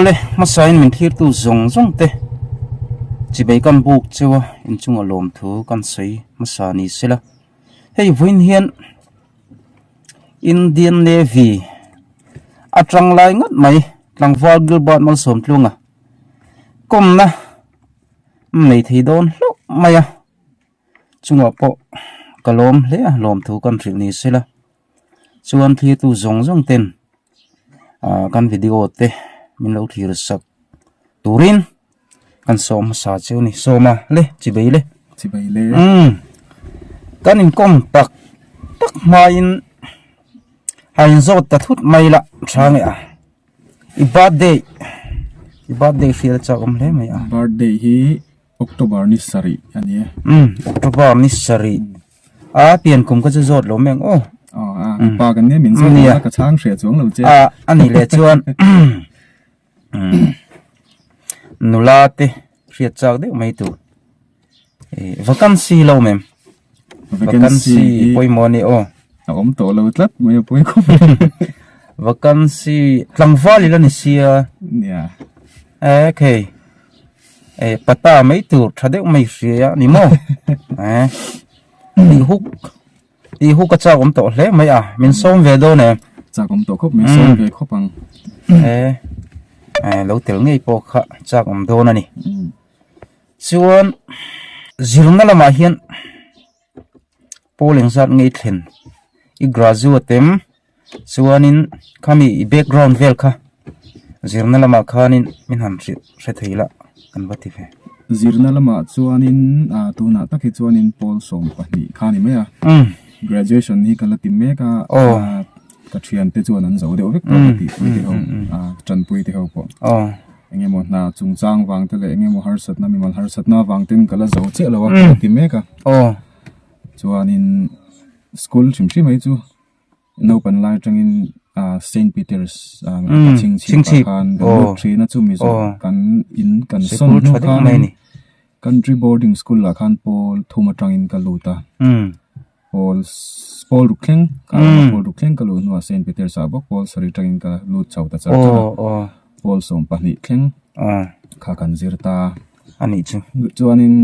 Awle, hmasain min thlirtu zawng zawng te chibei kan buk cheu a, inchunga lawm thu kan sawi hmasa ni sela. Hei vawiin hian Indian Navy atanglai ngat mai tlangval Gilbert Malsawmtlunga kawmna. Nei thei dawn hlauh mai a, chungah pawh ka lawm hle a, lawm thu kan hrilh ni se la, chuan thlitu zawng zawng ten aaa kan video te min lo thlir sak turin kan sawm hmasa che a ni, sawm a le chi bei le chi bei le umm kan in kawm tak tak hmain a in zawt ta thut mai la tha nge a. I birthday i birthday hrial chau awm hle mai a. Birthday hi October ni sarih a ni e. Umm October ni sarih a pian kum ka che zawt lo meng aw. Aw a pa kan nen min zawt a ka chhang hria chuang lo che. A a ni leh chuan nula te hriat chak deuh mai tur. vacancy lo mem vacancy pawimawh a ni aw a awm tawh lo tlat mai a pawi khawp e vacancy tlangval ila ni sia nia e khei e pata mai tur tha deuh mai hria ni maw e ti huk ti huk a chak awm tawh hle mai a min sawm ve dawn e chak awm tawh khawp min sawm ve khawp ang e e lo tel ngei pawh kha chak awm dawn a ni Chuan zirna lamah hian polling zat ngei thlen i graduate em chuanin khami i background vel kha zirna lamah khanin min han hre hre thei la kan va ti ve. Zirna lamah chuanin a tunah tak hi chuanin pawl sawm pahnih kha a ni mai a. Graduation hi ka la ti mek a. Pathian te chuan an zo deuh vek tawh ka tih puite ho, tanpui te ho pawh eng emaw hna chungchang vang te leh eng emaw harsatna mimal harsatna vang ten ka la zo chiah lo a ka ti mek a. Chuanin school hrim hrim mai chu naupan lai atangin Saint Peter's a chhing chhip ah khan kan lut thin a chumi zawh kan in kan sawn hnu khan country boarding school ah khan pawl thum atangin ka lut a. pawl pawl ruk thleng ka awm a pawl ruk thleng ka luh hnuah saint peter sah bawk pawl saree tangin ka lut chho ta char char a pawl sawm pahnih thleng kha kan zir ta a nih chu chuanin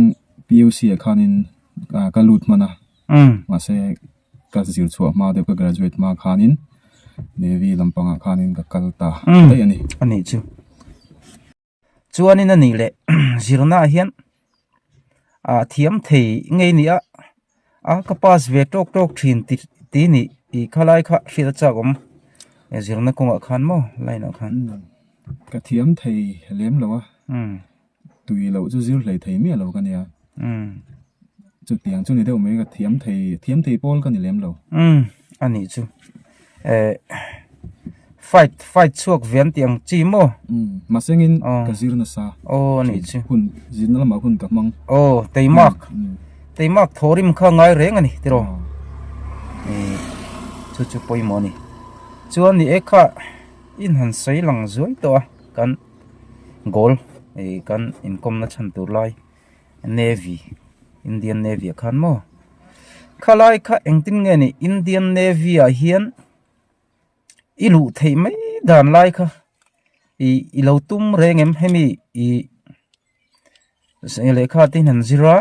puc ah khanin ka lut hman a mahse ka zir chhuah hma deuh ka graduate hma khanin navy lampangah khanin ka kal ta daih a ni. Chuanin a nih leh zirnaah hian a thiam thei ngei ni a, a ka pass ve tawk tawk thin ti ti ni tih kha lai kha hriat a chak awm e zirna kawngah khan maw line ah khan. Ka thiam thei lem lo a, tui loh chu zir hlei thei miah lo ka nia. Chutiang chu ni deuh mai ka thiam thei thiam thei pawl ka ni lem lo. Umm a nih chu eh fight fight chhuak vian tih ang chi maw? Umm mahse ngin ka zir nasa aw a nih chu hun zirna lamah hun ka hmang aw tei mak tei mak thaw rim kha ngai reng a ni tiraw eh chu chu pawimawh a ni chuan ni e kha in han sawi lang zuai tawh a kan goal eh kan inkawmna chhan tur lai. Navy Indian Navy ah khan maw khalai kha engtin nge ni Indian Navy ah hian i luh thei mai dan lai kha i i lo tum reng em hemi i lekha te han zira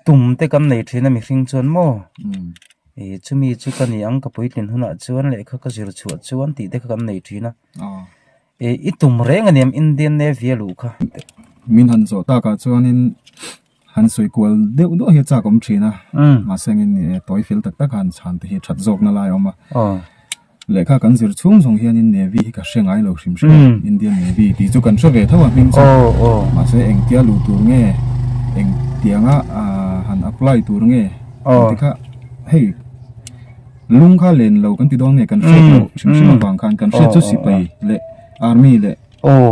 tum te kan nei thin a mi hring chuan maw hmm. i chumi chu ka ni ang ka puitlin hunah chuan lekha ka zir chhuah chuan tih te kha kan nei thin a ah. E i tum reng a niam Indian Navy a luh kha. Min han zawh tak ah chuan in han sawi kual deuh duah hi a chak awm thin a. Mahse ang in tawi fel tak tak a han chhan te hi that zawk na lai a awm a. Lehkha kan zir chhung zawng hian in Navy hi ka hre ngai lo hrim hrim a, Indian Navy tih chu kan hre ve tho a hming chu. Mahse eng tia luh tur nge, eng tiang a han apply tur nge, engtikha hei. Lung kha len lo kan ti dawn nge kan hriat loh hrim hrim avang khan kan hriat chu sipai leh army leh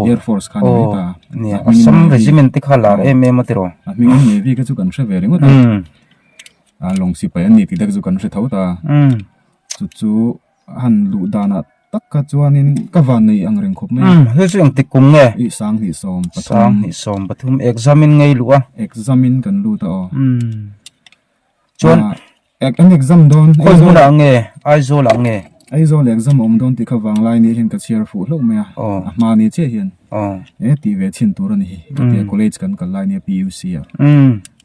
air force khan a ni ta. Nia assam regiment te kha la em em atiro. A hming in navy kha chu kan hre ve ringawt a. A long sipai an ni tih dek chu kan hre tho ta. Chu chu han luh dan ah tak kha chuan in ka va nuih ang reng khawp mai a. Hei chu eng tik kum nge? I sang hnih sawm pathum. Sang hnih sawm pathum exam in ngei luh a. Exam in kan lut a aw. Chuan. An exam dawn Aizawl ah nge Aizawl ah nge Aizawl ah exam a awm dawn tih kha vanglai nih hian ka chhiar fuh hlauh mai a a hma ni chiah hian e tih ve chhin tur a ni hi ka tia college kan kal lai ania PUC ah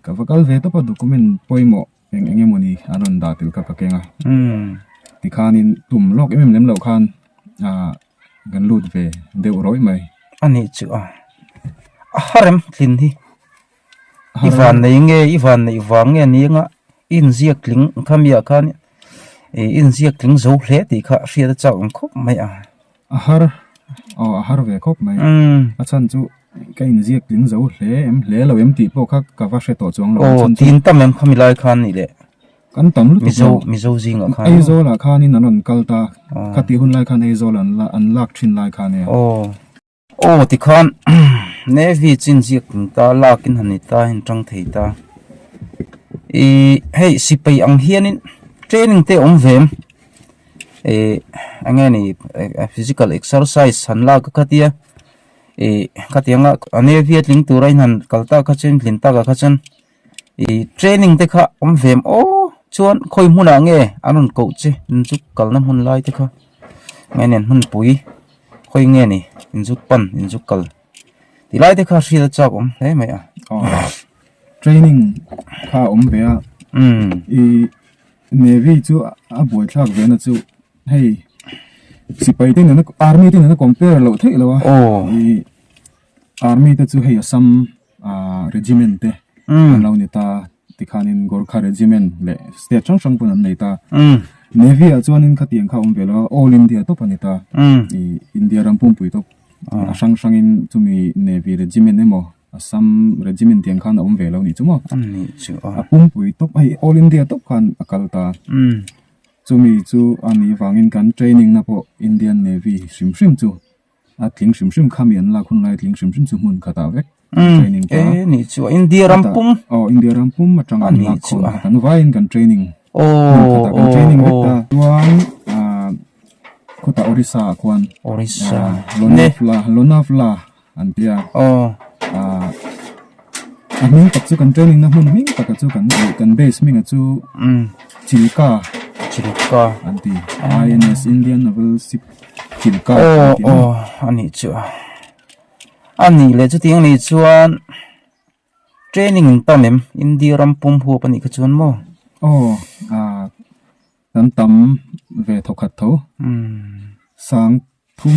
ka va kal ve tawp a document pawimawh eng eng emaw ni an rawn dah tel kha ka keng a tikhanin tum lawk em em lem loh khan kan lut ve deuh rawih mai a nih chu a a harem thin hi. I van nei nge, i van neih vang nge ni anga inziak tling khami ah khan ih inziak tling zo hle tih kha hriat a chak ang khawp mai a. A har, aw a har ve khawp mai a, a chhan chu ka inziak tling zo hle em hle lo em tih pawh kha ka va hre tawh chuang lo. Aw tin ta mem khami lai khan ni leh, kan tam lutuk lo, Mizo Mizo zing ah khan, Aizawl ah khan in an rawn kal ta, khati hun lai khan Aizawl an lak thin lai khan nia. Aw tikhan Navy chin ziak tum ta lakin han ni ta hin tang thei ta ih hei sipai ang hianin training te awm ve em ih enge ni physical exercise han la ka khatia ih khatianga Navy a tling tura in han kal ta kha chu in tlin taka kha chuan. ih training te kha awm ve maw chuan khawi hmunah nge an rawn koh che inzuk kalna hmun lai te kha ngain a hmunpui khawi nge ni inzuk pan inzuk kal tih lai te kha hriat a chak awm hle mai a training kha a awm ve a ih navy chu a buaithlak ve na chu hei sipai te nena army te nena compare loh theih lo a ih army te chu hei assam -- regiment te an lo ni ta tikhanin gorkha regiment leh state hrang hrang pawh an nei ta navy ah chuanin khatiang kha awm ve lo a all india tawp a ni ta i india ram pumpuii tawp a hrang hrangin chumi navy regiment emaw assam regiment tiang khan a awm ve lo ni chu maw a pumpuii tawp hei all india tawp khan a kal ta chumi chu a nih vangin kan training na pawh indian navy hrim hrim chu A tling hrim hrim kha mi an lak hun lai tling hrim hrim chu hmun khatah vek training ta eh ni chu a India ram pum aw India ram pum atang an lak khawm a kan vaiin kan training hmun khatah kan training vek ta chuan ah khawtah Orissa ah khuan Orissa Lonavala Lonavala an tia aw ah. a hming tak chu kan training na hmun hming takah chu kan nih kan base hming ah chu chilka chilka an ti INS Indian Naval Ship chilka aw aw a nih chu a a nih leh chu tiang nei chuan training in tan em India ram pum huap a nih kha chuan maw aw a Kan tam ve tho khat tho. Sang thum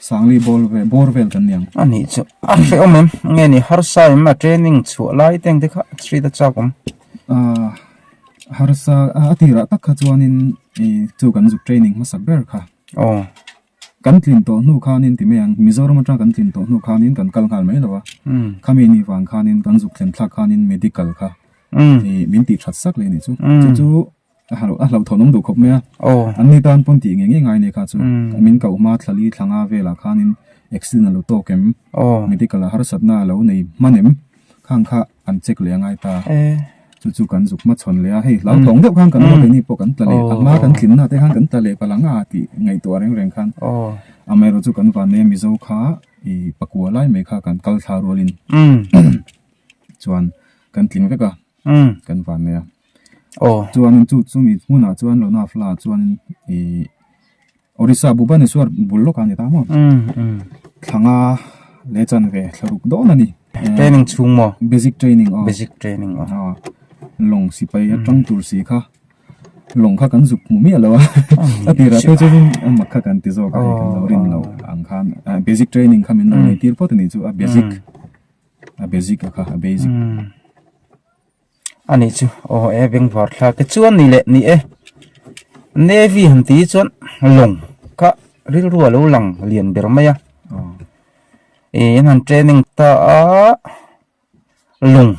sangli ball ve bawr vel kan niang. A nih chu. A hreh awm em. Nge ni harsa em a training chhuah lai te ang te kha street a chak awm. Ah harsa a tirah tak kha chuanin i chu kan zuk training hmasak ber kha. Aw. Kan tlin tawh hnu khanin ti mai ang Mizoram atang kan tlin tawh hnu khanin kan kal nghal mai lo a. Khami ni vang khanin kan zuk thlen thlak khanin medical kha. Min tih that sak leh a nih chu. Chu chu. A hlauh thawnawm duh khawp mai a, an ni tan pawn tih nge nge ngai a ni kha chu. Min koh hma thlali thlanga velah khanin accident a lo tawk em, medical ah harsatna a lo nei hman em kha ang kha an check leh a ngai ta. Chu chu kan zuk hma chhawn leh a, hei hlauh tlawng deuh khan kan ngawi ni pawh kan tla leh, a hma kan tlinna te khan kan tla leh ka la nga tih ngaihtuah a reng reng khan. Amaherawhchu chu kan van neia Mizo kha ih pakua lai mai kha kan kal thla rualin chuan kan tling vek a, kan van nei a. aw. Chuanin chu chumi hmunah chuan Lona Fla chuanin ih Odisha Bhubaneswar bul lawkah a ni ta maw? Umm umm. Thlanga leh chanve thlaruk dawn a ni. Training chhung maw? Basic training aw. Basic training aw. Aw. Lawng sipai atang tur si kha lawng kha kan zuk hmuh miah lo a. A tirah te chuan amah kha kan ti zawk a kan lo rin lo ang khan basic training kha min rawn entir phawt a nih chu a basic a basic a kha a basic. a nih chu aw e bengvar thla te chuan ni leh ni e navy han ti hi chuan lawng kha rilru a lo lang lian ber mai a ih an han training ta a lawng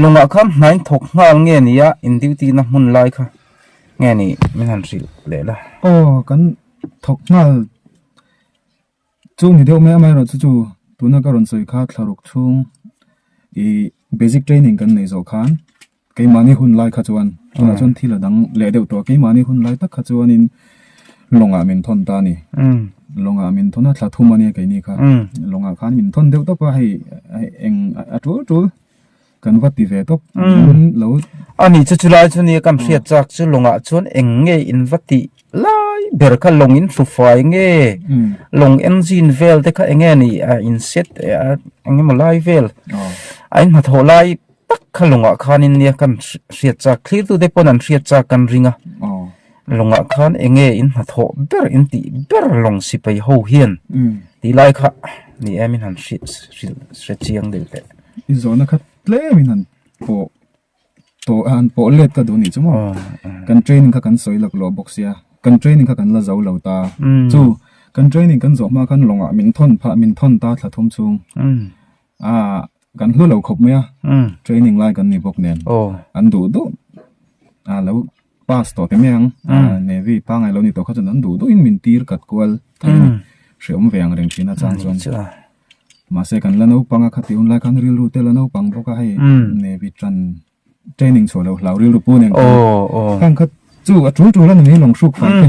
lawngah kha hnain thawk nghal nge ni a in duty na hmun lai kha nge ni min han hrilh leh la aw kan thawk nghal. Chu ni deuh mai amah erawh chu chu tuna ka rawn sawi kha thlaruk chhung ih basic training kan nei zawh khan keimahni hun lai kha chuan tunah chuan thil a dang leh deuh tawh a keimahni hun lai tak kha chuanin lawngah min thawn ta a ni lawngah min thawn a thla thum a nia keini kha lawngah khan min thawn deuh tawp a hei eng a tul tul. Kan va ti ve tawp umm lo. Ani chu chulai chu nia kan hriat chak chu lawngah chuan eng nge in va ti lai ber kha lawng in hlu fai nge lawng eng zin vel te kha eng nge ni a in set eng emaw lai vel a in hnathawh lai tak kha lawngah khan in nia kan hriat chak thlir tu te pawn an hriat chak kan ring a. Lawngah khan enge in hnathawh ber in tih ber lawng si pei ho hian tih lai kha ni em in han hrilh hrilh chiang deuh teh. I zawhna kha tlem in han pawh pawh han pawh let ka duh ni chu maw kan training kha kan sawi lak lo bawk sia kan training kha kan la zo lo ta chu kan training kan zawh hma khan lawngah min thawn pha min thawn ta thla thum chung a kan hlu lo khawp mai a training lai kan ni bawk nen an duh duh a lo pass tawh keme ang navy a pangai lo ni tawh kha chuan an duh duh in min tir kat kual thei a ni hre awm ve ang reng thin atang chuan mahse kan la naupang a khati hun lai khan rilru te la naupang bawk a hei navy tan training chhuah loh hlau rilru pu nen khan khan kha chu a tul tul a ni mai lawng hruk fai te.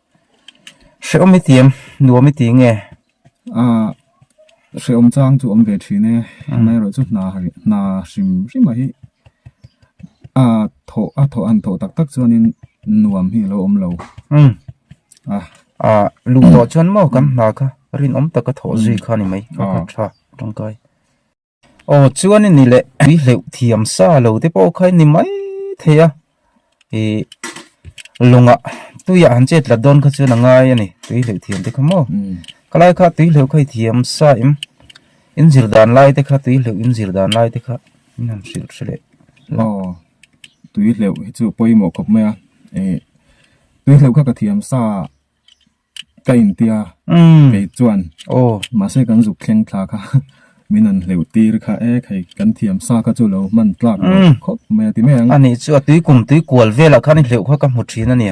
Hrehawm i ti em? Nuam i ti nge? Aah, hrehawm chang chu awm ve thin e. Hemi erawh chu hna hna hrim hrima hi a thawh a thawh a han thawh tak tak chuanin nuam hi a lo awm lo. Umm. A. A luh tawh chuan maw kan hna kha rinawm taka thawh zui kha a ni mai. Ka kha tha tangkai. Aw chuan i ni leh tui hleuh thiam sa lo te pawh kha i ni mai thei a, ih lawngah tuia han chet tlat dawn kha chuan a ngai a ni tui hleuh thiam te kha maw, ka lai kha tui hleuh kha i thiam sa em, in zir dan lai te kha tui hleuh in zir dan lai te kha in han hrilh hre leh la. Aw tui hleuh hi chu pawimawh khawp mai a, ih tui hleuh kha ka thiam sa a. Ka intia kei chuan mahse kan zuk thleng thla kha min an hleuh tir kha e kei kan thiam sa kha chu lo hman tlak leh khawp mai a ti mai ang a ni chu a tui kum tui kual velah khan i hleuh kha ka hmu thin a ni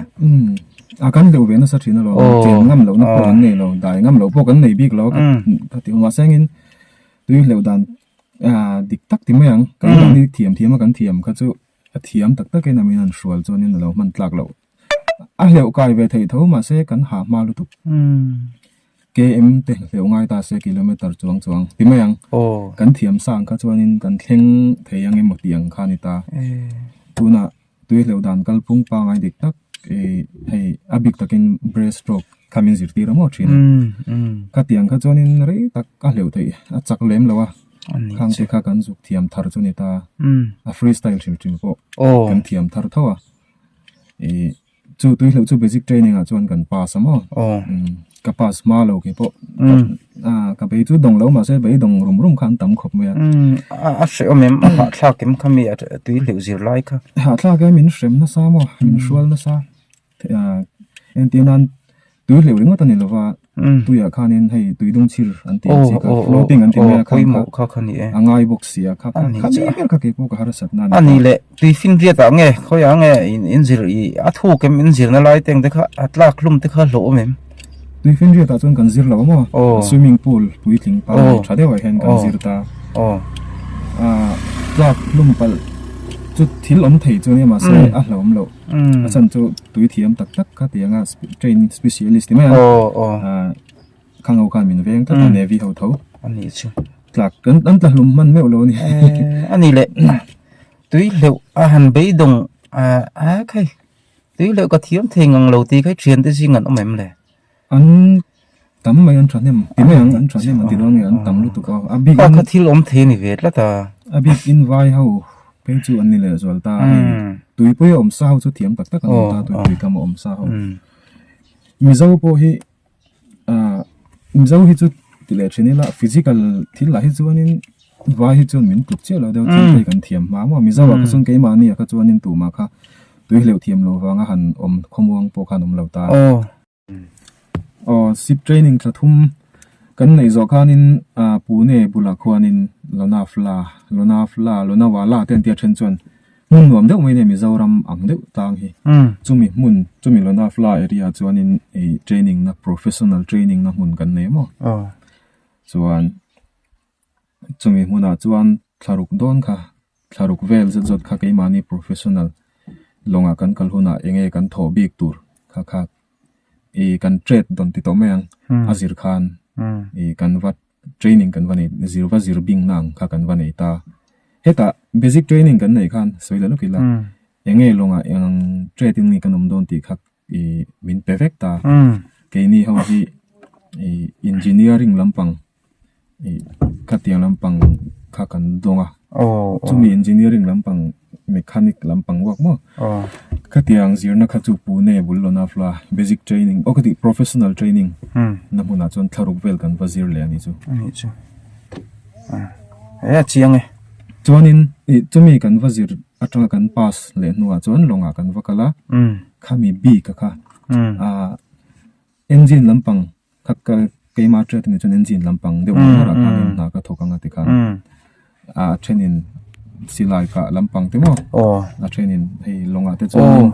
a kan hleuh ve nasa thin a lo chen ngam loh na pawh kan nei lo dai ngam loh pawh kan nei bik lo ka ti mahse angin tui hleuh dan dik tak ti mai ang kan dik thiam thiam a kan thiam kha chu a thiam tak tak in a min han hrual chuan in a lo hman tlak loh. a hleuh kai ve thei tho mah se kan ha hma lutuk KM te hleuh ngai ta se kilometer chuang chuang ti mai ang kan thiam sa ang kha chuanin kan thleng thei ang emaw tih ang kha a ni ta tuna tui hleuh dan kalphung pangai dik tak hei a bik takin breast stroke kha min zir tir amaw thin ka tiang kha chuanin rei tak a hleuh theih a chak lem lo a khang te kha kan zuk thiam thar chu a ni ta a freestyle hrim hrim pawh kan thiam thar tho a. ih chu tui hlauh chu basic training ah chuan kan pass a maw aw ka pass hma lo khi pawh ah ka bei chu dawng lo mahse bei dawng rum rum kha an tam khawp mai a a hreh awm em a hahthlak em kha mi a tui hlauh zir lai kha hahthlak em in hrem nasa maw in hrual nasa ah engtin a. tui hleuh ringawt a ni lova tuiah khanin hei tui dung chhir an tih ang chi kha floating an ti mai a khangkha a ngai bawk sia kha kha mi ber kha kei pu ka harsat na a ni le tui fing viat ah nge khawi ah nge in zir i a thuk em in zir na lai te ang te kha a tlak hlum te kha hlawh awm em tui fing viat ah chuan kan zir lo a maw swimming pool puitling par leh tha deuh ah hian kan zir ta tlak hlum palh chu thil awm thei chuan emaw se a hlawm loh a chan chu tui thiam tak tak kha ti anga training specialist ti mai a ah kha ngo khan min veng tlat a navy ho tho ani chu tlak kan kan tla hlum hman meuh lo a ni ani le tui hleuh a han beidawng ah a khai tui hleuh ka thiam thei ngang lo tih kha thiante zing an awm em le. An tam mai an tha hnem. Ti mai ang an tha hnem ang ti dawn nge an tam lutuk a. A bik in. Ka thil awm thei ni ve tlat a. A bik in vai ho phei chu an ni leh zual ta a. Tuipui a awm sa ho chu thiam tak tak an awm ta a tuipui kam a awm sa ho. Mizo pawh hi ah Mizo hi chu ti leh thin ila physical thil lah hi chuanin vai hi chuan min tluk chiah loh deuh thil te kan thiam hma maw. Mizo ah kha chuan keimahni ah kha chuanin tumah kha tui hleuh thiam loh vang a han awm khawmuang pawh kha an awm lo ta a. Aw sip training thla thum kan neih zawh khan in ah Pune bulah khuan in Lonavala Lonavala Lonavala te an tia then chuan hmun nuam deuh mai a nia Mizoram ang deuh ta ang hi chumi hmun chumi Lonavala area ah chuan in ih training na professional training na hmun kan nei maw chuan chumi hmunah chuan thlaruk dawn kha thlaruk vel zet zawt kha keimahni professional lawngah kan kal hunah eng nge kan thawh bik tur kha kha ihh kan chet dawn ti tawh mai ang a zir khan ihh kan va training kan va nei zir va zir bingna ang kha kan va nei ta hetah basic training kan neih khan sawi leh lawk ila eng nge lawngah eng ang chet in nge kan awm dawn tih kha. min pe vek ta keini ho hi engineering lampang khatiang lampang kha kan dawng a chumi engineering lampang mechanic lampang ruak maw khatiang zirna kha chu pune bul lawna fla basic training aw ka tih professional training na hmunah chuan thlaruk vel kan va zir leh a nih chu a ni chu a chiang e. chuanin ih chumi kan va zir aṭanga kan pass leh hnungah chuan lawngah kan va kal a khami bik a kha ah engine lampang kha kal keima a ṭiat ami chuan engine lampang deuh mai harah khan in hna ka thawk anga tikha ah a ṭhenin silai kah lampang te maw a ṭhenin hei lawngah te chuan.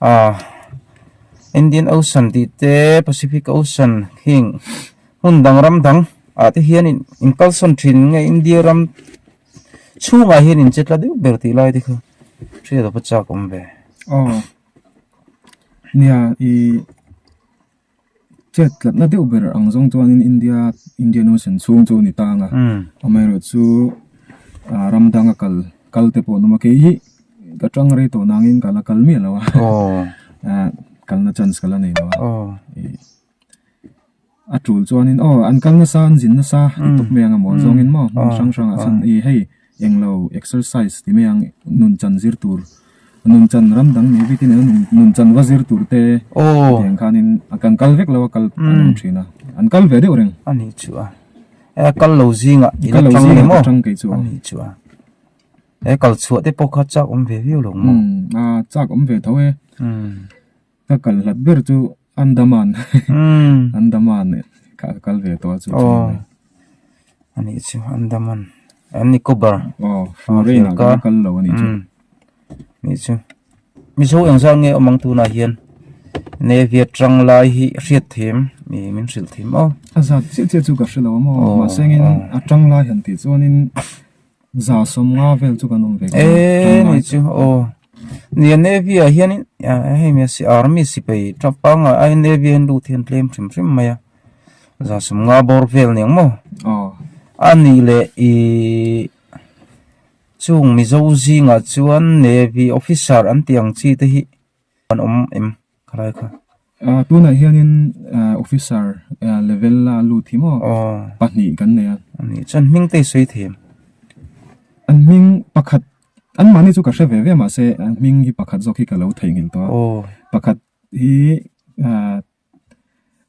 Aah Indian Ocean tih te Pacific Ocean heng hmun dang ram dang ah te hian in kalsawn thin nge India ram chhung ah hian in che tla deuh ber tih lai te kha hriat a va chak awm ve. Aw nia ih. Chet tlatna deuh ber ang zawng chuanin India, Indian Ocean chhung chu a ni tang a. Amaherawhchu chu ram danga kal, kalte pawh a awm a. Kei hi ka tang rei tawh nangin kal a, kal miah lo a. Kalna chance ka la nei lo a. A tul chuanin, aw, an kal nasa, an zin nasa, an tuk mai ang emaw zawngin maw? Hrang hrang a, hei. Englo exercise ti mai ang nun chan zir tur nun chan ram dang nei vek in eng nun chan va zir tur te ti ang khan in a kan kal vek lo a kal an awm thin a an kal ve deuh reng a nih chu a e a kal lo zing a in atang em aw atang ke chu a nih chu a e kal chhuah te pawh kha chak awm ve viau lo maw a chak awm ve tho e ka kal hlat ber chu andaman andaman ka kal ve tawh a chu aw a nih chu andaman an nicobar aw foreign ah ka kal lo a nih chu nih chu mizo eng zang nge awm ang tunah hian navy atang lai hi hriat theih em ni min hrilh theih maw a zat chiah chiah chu ka hre lo a maw mahse ngin atang lai han tih chuan in za som nga vel chu kan awm ve e ni chu o ni a navy ah hian in hei me si army sipai tha panga a in navy a in lut hian tlem thrim thrim mai a za som nga bawr vel ni ang maw oh a ni le i chung mizo zingah chuan navy officer an tih ang chi te hi kan awm em khalai kha ah tunah hianin ah officer ah level la lut hi maw ah pahnih kan nei a ani chuan hming te hi sawi thei em an hming pakhat an mahni chu ka hre ve ve mahse an hming hi pakhat zawk hi ka lo theihnghilh tawh a aw pakhat hi ah.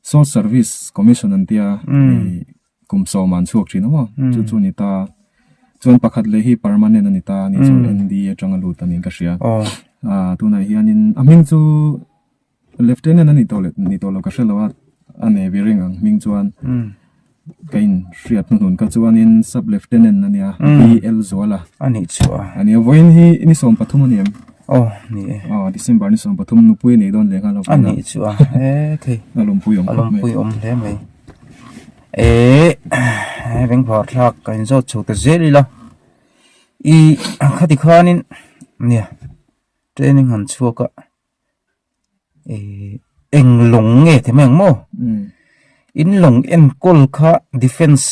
Saw service commission an tia kum sawm an chhuak thin aw chu chu ni ta chuan pakhat leh hi permanent ani ta ni chu ND atanga lut ani ka hria a tunah hianin a hming chu lieutenant ani tawh ni tawh lo ka hrelo a a navy ring ang hming chuan ka in hriat hnu hun kha chuan in sub lieutenant a nia BL Zuala a nih chu a a nia vawiin hi ni sawm pathum a ni em aw ni e aw December ni sawm pathum nupui a nih dawn ve nghal a a nih chu a he thei a lawmpui awm khawp mai a lawmpui awm hle mai eehh he ringhlar thlak ka in zawt chho ta zel ila ih khati khan in nia training han chhuak a. eh eng lawng nge ti mai ang maw in lawng enkawl kha defence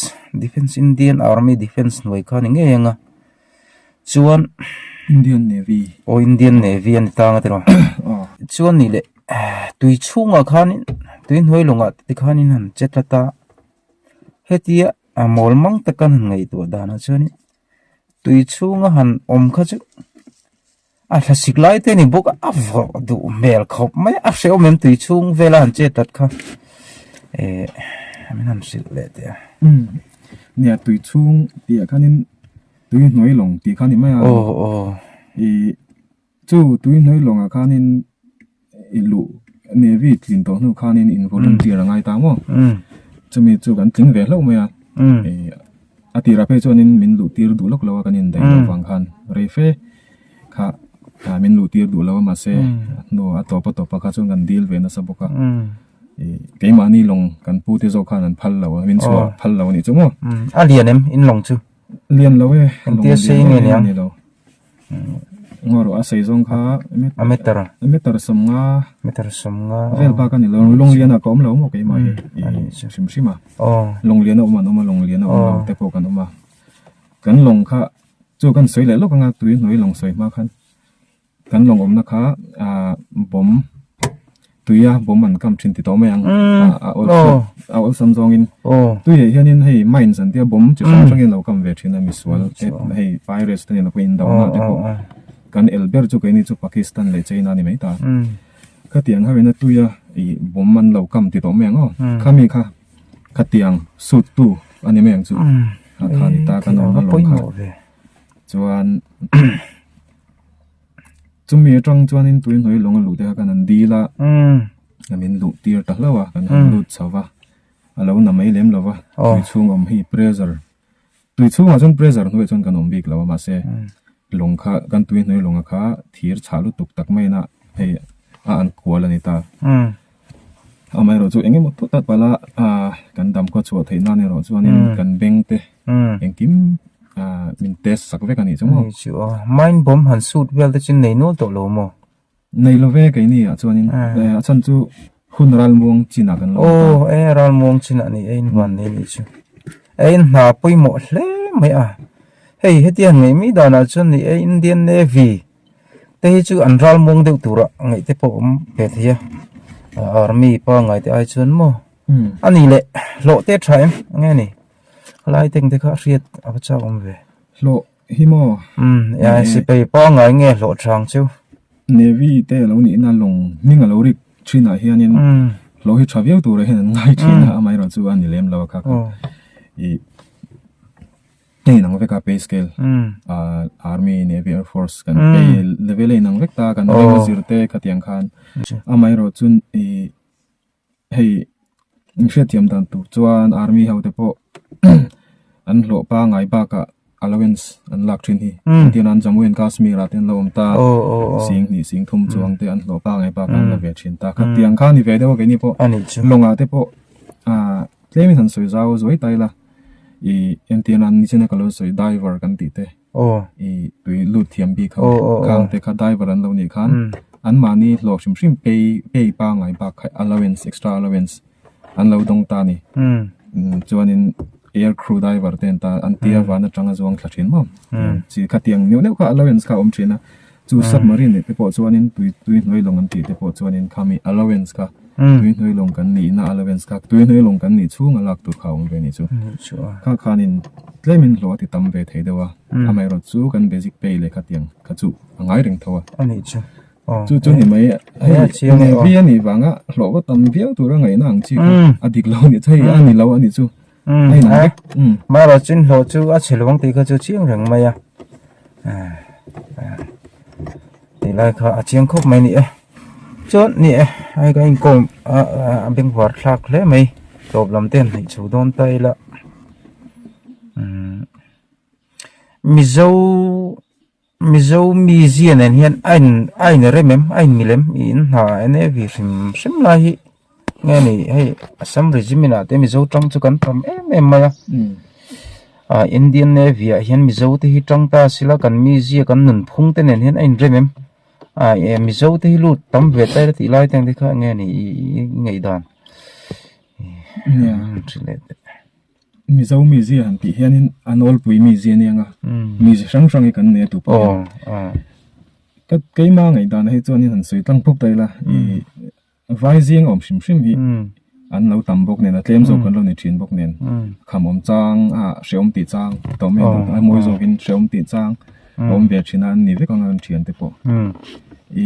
defence indian army defence hnuai kha ni ngei ang a chuan indian navy aw indian navy a ni tang a tiraw chuan nih leh tui chhungah khanin tui hnuai lawngah te khanin han che tlat a hetia a mawl mang taka han ngaihtuah danah chuanin tui chhunga han awm kha chu-- A hlasik lai te ni bawk a vawh duh hmel khawp mai a hreawm em tui chhung vela han chet tlat kha ehh min han hrilh leh teh a umm nia tui chhung piah khanin tui hnuai lawng tih kha ni mai a aw aw ihh chu tui hnuai lawng ah khanin. I luh Navy tlin tawh hnu khanin in volunteer a ngai ta maw? Chumi chu kan tling ve hlauh mai a. A tirah phei chuan in min luh tir duh lawk lo a kan indaih loh vang khan rei fe kha min luh tir duh lo a mahse a hnu a tawp a tawp a kha chuan kan dil ve nasa bawk a. Keimahni lawng kan pu te zawk khan an phal lo a, min chhuah phal lo a nih chu maw? A lian em in lawng chu? Lian lo e. Engtia sei nge niang? Ngaw rawh a sawi zawng kha a meter a meter sawmnga meter sawmnga a vel bak a ni lo lawng lian ah ka awm lo maw keimah hi ih chi hrim hrim a aw lawng lian a awm an awm a lawng lian a awm lo te pawh kan awm a kan lawng kha chu kan sawi leh lawk anga tui hnuai lawng sawi hma khan kan lawng awmna kha ah bawm. Tuia bawm an kam thin ti tawh mai ang a awlsam zawngin tui leh hianin hei mines an tia bawm chi hrang hrangin an lo kam ve thin a misual hei virus te nen a pawh indona te pawh kan el ber chu keini chu Pakistan leh China a ni mai ta khatiang ho ina tuia ih bawm an lo kam ti tawh mai ang aw khami kha khatiang sut tu a ni mai ang chu khani ta kan awm a lawm kha chuan. chumi atang chuan in tui hnawih lawng a luh te kha khan an dil a kan in luh tir ta hlauh a kan han lut chho va a lo na mai lem lo va tui chhung awm hi pressure tui chhung ah chuan pressure hnuaih chuan kan awm bik lo a mahse lawng kha kan tui hnawih lawng a kha thir chhah lutuk tak maiin a hei a an kual a ni ta. amaherawh chu engemaw pawtah pala ah kan dam khaw chhuah theih nan erawh chuan in kan bank te engkim ah min test sak vek a nih chu maw ni chu a mine bomb han shoot vel te chu nei nual tawh lo maw nei lo ve keini ah chuan in a chhan chu hun ralmuang chin ah kan lo aww aww e ralmuang chin ah a ni e in huan leh a nih chu e in hna pawimawh hle mai a hei hetiang ngei mai dan ah chuan ni e Indian navy te hi chu an ral muang deuh tur a ngaih te pawh awm ve thei a ah army pangngai te ai chuan maw a nih leh hlawh te tha em enge ni a lai tank te kha a hriat a va chak awm ve hlawh hi maw ai si phei pangngai nge hlawh chang chu navy te a lo nih na lawng hming a lo rik thin ah hian in hlawh hi tha viau tur ah hian an ngai thin a amaherawhchu a ni lem lo a kha kha ih. Hei nang veka pay scale army navy air force kan pay level a inang vek ta kan ringa zir te ka tiang khan amah erawh chu hei in hriat thiam dan tur chuan army ho te pawh an hlawh pangai bakah allowance an lak thin hi tihna an jammu and kashmir ah te an lo awm ta sing hnih sing thum chuang te an hlawh pangai bakah an la ve thin ta ka tiang khan i ve deuh a kei ni pawh lawngah te pawh. Tlem in han sawi zau zuai ta ila i engtiana an ni china ka lo sawi diver kan tih te i tui lut thiam bik ho kang te kha diver an lo nih khan an mahni hlawk hrim hrim pay pay pangai bak kha allowance extra allowance an lo dawng ta ni chuan in air crew diver ten ta an tia van atanga zawng thla thin mawm chi khatiang neuh neuh kha allowance kha awm thin a. Chu submarine leh te pawh chuanin tui tui hnuai lawng an tih te pawh chuanin khami allowance kha tui hnuai lawng kan nih ina allowance kha tui hnuai lawng kan nih chhunga lak tur kha a awm ve anih chu. Kha khanin tlem in hlawh a ti tam ve thei deuh a, amaherawhchu chu kan basic pay leh khatiang kha chu a ngai reng tho a. Anih chu. Chu chu ni mai hei Navy anih vanga hlawh va tam viau tura ngaihna ang chi kha a dik lo anih chu hei a ni lo anih chu. mara chin hlawh chu a chhe luang tih kha chu chiang reng mai a tih lai kha a chiang khawp mai a ni e chuan ni e ai kha inkawm a bengvar thlak hle mai tawp lam te an hnaih chho dawn ta ila mizo-- Mizo mi zia nen hian a in a in rem em a in milh em ih in hna en e vi hrim hrim lai hi nge ni hei assam regiment ah te mizo tang chu kan tam em em mai a ah indian navy ah hian mizo te hi tang ta a si la kan mi zia kan nunphung te nen hian a in rem em ah e mizo te hi lut tam ve ta ila tih lai te ang te kha enge ni ih i ngei dan. Mizo mizi han tih hian in a nawlpui mizi a nia nga mizi hrang hrang hi kan nei a tûr pawh hian ka keima ngaih dan hi chuan in han sawi tlang phawp ta ila i vai zing awm hrim hrim hi an lo tam bawk nen a tlem zawk an lo ni thin bawk nen khamawm chang a hrehawm tih chang tawh mai ang a mawi zawk in hrehawm tih chang a awm ve thin a an ni vek ang a an thian te pawh i.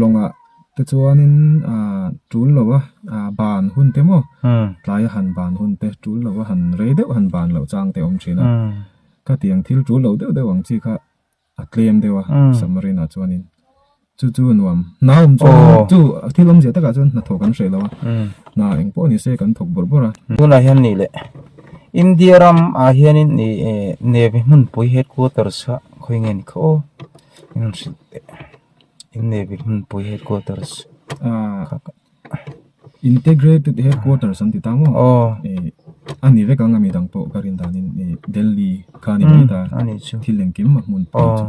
lawngah te chuanin aaa tul loh a aa ban hun te maw tlaia han ban hun te tul loh a han rei deuh a han ban loh chang te a awm thin a khatiang thil tul loh deuh deuh ang chi kha a tlem deuh a submarine ah chuanin chu chu a nuam hna awm chu chu thil awmzia takah chuan hna thawh kan hre lo a hna eng pawh nise kan thawk bawrh bawrh a tunah hian nih leh India ramah hianin ih navy hmunpui headquarters kha khawi nge ni kha aw. innevih hmunpui headquarters integrated headquarters an ti ta maw aw a ni vek ang a mi dang pawh ka rin dan in ni delhi kha a ni mai ta a ni chu thil engkim a hmun pawh chu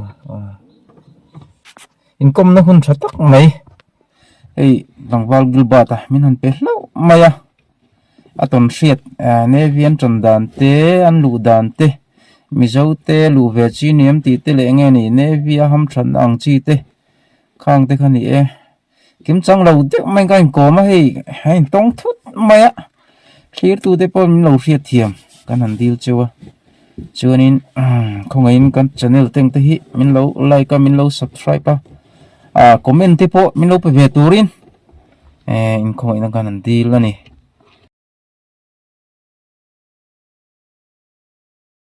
inkawmna hun tha tak mai hei tlangval gilbert a min han pe hlauh mai a A tawn hriat Navy an tawn dan te an luh dan te Mizo te luh ve chi ni em tih te leh nge ni Navy a ham that na ang chi te khang te kha ni e kim chang lo deuh mai ka inkawm a hei a intawng thut mai a thlir tu te pawh min lo hriat thiam kan han dil cheu a chuanin khawngei in kan channel teng te hi min lo like a min lo subscribe a comment te pawh min lo pe ve turin ehh inkhawmawih na khan an dil a ni.